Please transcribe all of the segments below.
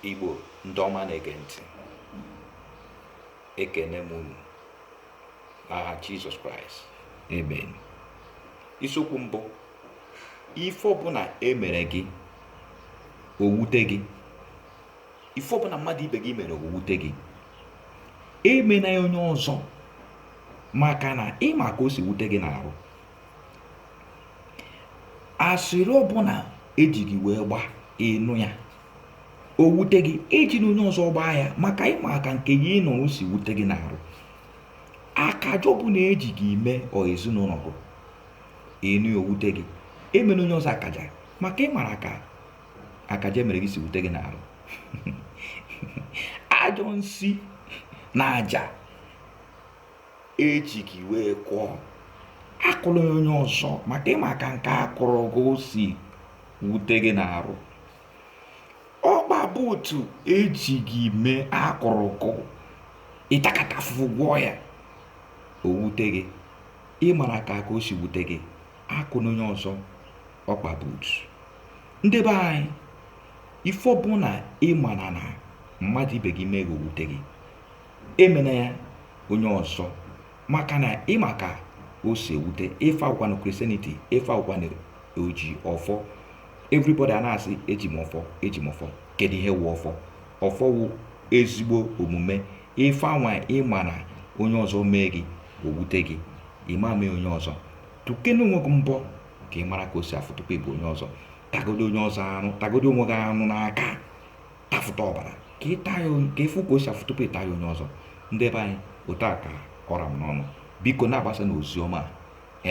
Igbo ndị ọma na-ege ntị ekene m unu n'aha Jizọs Kraịst amen isiokwu m bụ ife ọbụna emere gị owute gị ife ọbụna mmadụ ibe gị mere owute gị emena ya onye ọzọ maka na ịma ka o si wute gị n'ahụ asịrị ọbụna eji gị wee gba ịnụ ya o wute gị ejina onye ọzọ gbaa ya maka ịmara ka nke ịnụrụ o si wute gị n'arụ akaja ọbụna eji gị mee or ezinụlọ gị ịnụ ya o wute gị emena onye ọzọ akaja maka ịmara ka akaja emere gị si wute gị n'arụ ajọ nsi na aja eji gị wee kụọ akụna ya onye ọzọ maka ịma ka nke akụrụ gị o si wute gị n'arụ ọkpa buutu eji gị mee akụrụ gị ịtakata afụfụ gwọọ ya o wute gị ịmara ka o si wute gị akụna onye ọzọ ọkpa buutu ndị be anyị ife ọbụna ịmara na mmadụ ibe gị mee gị owute gị emena ya onye ọzọ maka na ịma ka o si ewute ife a wụkwanụ Christianity ife a wụkwanụ oji ọfọ everybody a na-asị eji m ọfọ eji m ọfọ kedu ihe wụ ọfọ ọfọ wụ ezigbo omume ife anwa ịma na onye ọzọ mee gị owute gị ịma mee onye ọzọ tụkene onwe gị mbọ ka ị mara ka o si afụ tupu ịbụ onye ọzọ tagodo onye ọzọ arụ tagodo onwe gị arụ n'aka tafụta ọbara ka ịfụ ka o si afụ tupu ịta ya onye ọzọ ndị be anyị otu a ka ọ ra m n'ọnụ biko na-agbasanụ ozi ọma a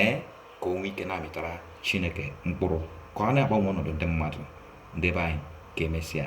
ee ka o nwee ike na-amịtara chineke mkpụrụ ka ọ na-agbanwe ọnọdụ ndị mmadụ ndị be anyị ka emesịa